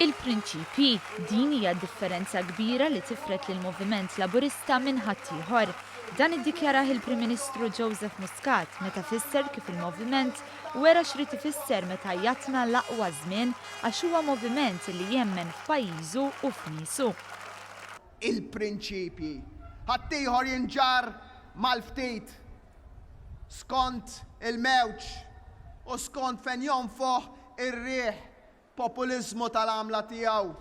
Il-prinċipji, din hija d-differenza kbira li tifred lill-Moviment Laburista minn ħaddieħor. Dan iddikjarah il-Prim Ministru Joseph Muscat meta fisser kif il-Moviment wera x'rid ifisser meta jgħattna l-aqwa żmien għax huwa Moviment li jemmen f'pajjiżu u f'niesu. Il-prinċipji. Ħaddieħor jinġarr mal-ftit. skont il-mewġ u skont fejn jonfoħ ir-riħ populiżmu tal-għamla tiegħu.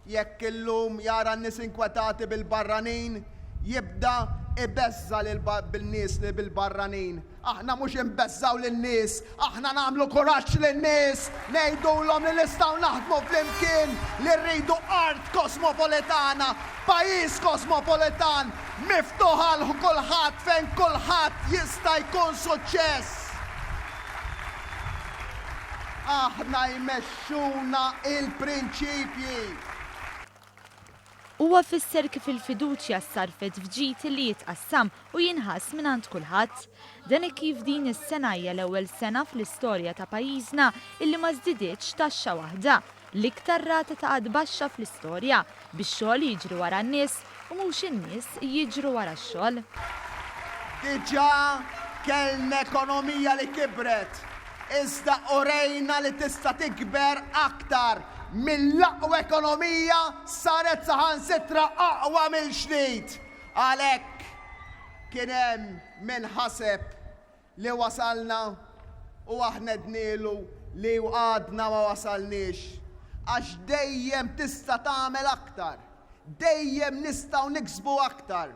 Jekk illum jara n-nies inkwetati bil-barranin, jibda jbeżża' lil nies li bil-barranin. Aħna mhux inbeżżgħu lin-nies Aħna nagħmlu kuraġġ lin-nies, ngħidulhom li nistgħu naħdmu flimkien, li rridu art kosmopolitana, pajjiż kosmopolitan, miftuħ għal kulħadd fejn kulħadd jista' jkun suċċess. Aħna jmexxuna l-prinċipji. Huwa fisser kif il-fiduċja ssarrfet f'ġid li jitqassam u jinħass mingħand kulħadd. Dan hekk kif din is-sena hija l-ewwel sena fl-istorja ta' pajjiżna illi ma żdidietx taxxa waħda, l-iktar rata ta' qgħad baxxa fl-istorja, bix-xogħol jiġri wara n-nies u mhux in-nies jiġru wara x-xogħol. Diġà kellna ekonomija li kibret iżda urejna li tista' tikber aktar, mill-aqwa ekonomija saret saħansitra aqwa mill-ġdid. Għalhekk, kien hemm min ħaseb li wasalna u aħna għednielu li għadna ma wasalniex, għax dejjem tista' tagħmel aktar. Dejjem nistgħu niksbu aktar.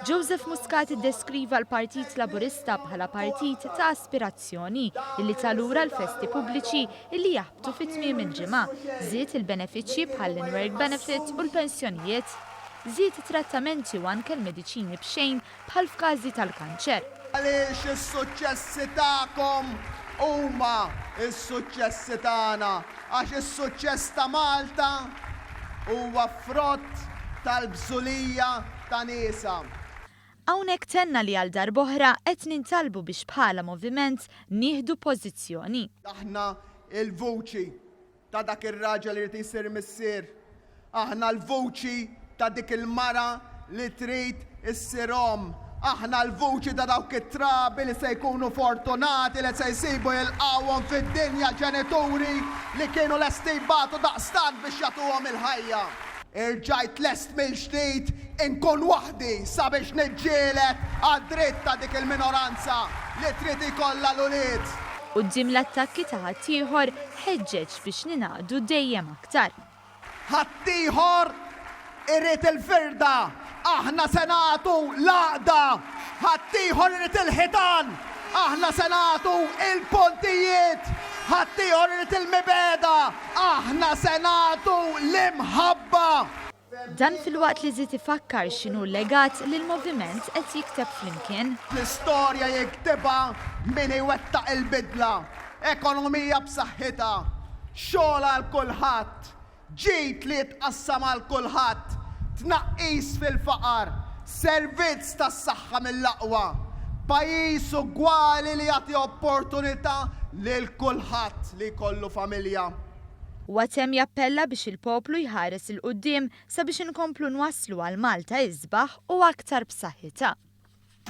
Joseph Muscat iddeskriva l-Partit Laburista bħala partit ta' aspirazzjoni illi ta' lura l-festi pubbliċi illi jaħbtu fi tmiem il-ġimgħa, żied il-benefiċċji bħall-in-work benefit u l-pensjonijiet, żied it-trattamenti u anke l-mediċini b'xejn bħal f'każi tal-kanċer. Għaliex is-suċċessi tagħkom huma s-suċċessi tagħna? Għax is-suċċess ta' Malta huwa frott tal-bżulija ta' niesha. Hawnhekk tenna li għal darb'oħra qed nintalbu biex bħala moviment nieħdu pożizzjoni. Aħna l-vuċi ta' dak ir-raġel irid isir missier. Aħna l-vuċi ta' dik il-mara li trid issir omm. Aħna l-vuċi ta' dawk it-trabi li se jkunu fortunati li se jsibu jilqgħuhom fid-dinja ġenituri li kienu lesti jbatu daqstant biex jagħtuhom il-ħajja. Irġajt lest mill-ġdid inkun waħdi sabiex niġġieled għad-dritt ta' dik il-minoranza li trid ikollha l-ulied. Quddiem l-attakki ta' ħaddieħor, Ħeġġeġ biex ningħaqdu dejjem aktar. Ħaddieħor irid il-firda, aħna se nagħtu l-għaqda. Ħaddieħor irid il-ħitan, aħna se nagħtu l-pontijiet. Ħaddieħor irid il-mibegħda, aħna se nagħtu l-imħabba. Dan filwaqt li żied ifakkar x'inhu l-legat li l-moviment qed jikteb flimkien. L-istorja jiktibha min iwettaq il-bidla, ekonomija b'saħħitha, xogħol għal kulħadd, ġid li jitqassam għal kulħadd, tnaqqis fil-faqar, servizz tas-saħħa mill-aqwa, pajjiż ugwali li jagħti opportunità lil kulħadd li jkollu familja. Huwa temm jappella biex il-poplu jħares 'il quddiem sabiex inkomplu nwasslu għal Malta isbaħ u aktar b'saħħitha.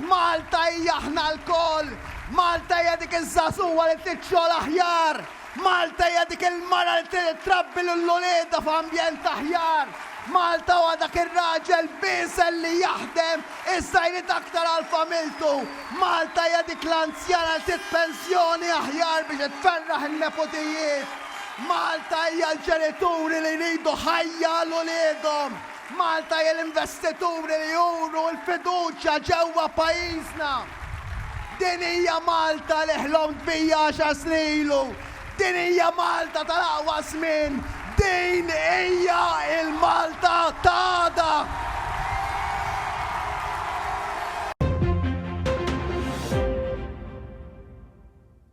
Malta hija aħna lkoll! Malta hija dik iż-żagħżugħa li trid xogħol aħjar! Malta hija dik il-mara li trid ittrabbi lil uliedha f'ambjent aħjar! Malta huwa dak ir-raġel b'isel li jaħdem Iżda jrid aktar għal familtu. Malta hija dik l-anzjana li trid pensjoni aħjar biex itferraħ in-neputijiet. Malta hija l-ġenituri li jridu ħajja għal uliedhom. Malta hija l-investituri li juru l-fiduċja ġewwa pajjiżna. Din hija Malta li ħlomt bija għaxar snin ilu, Din hija Malta tal-aqwa żmien! Din hija l-Malta ta' għada!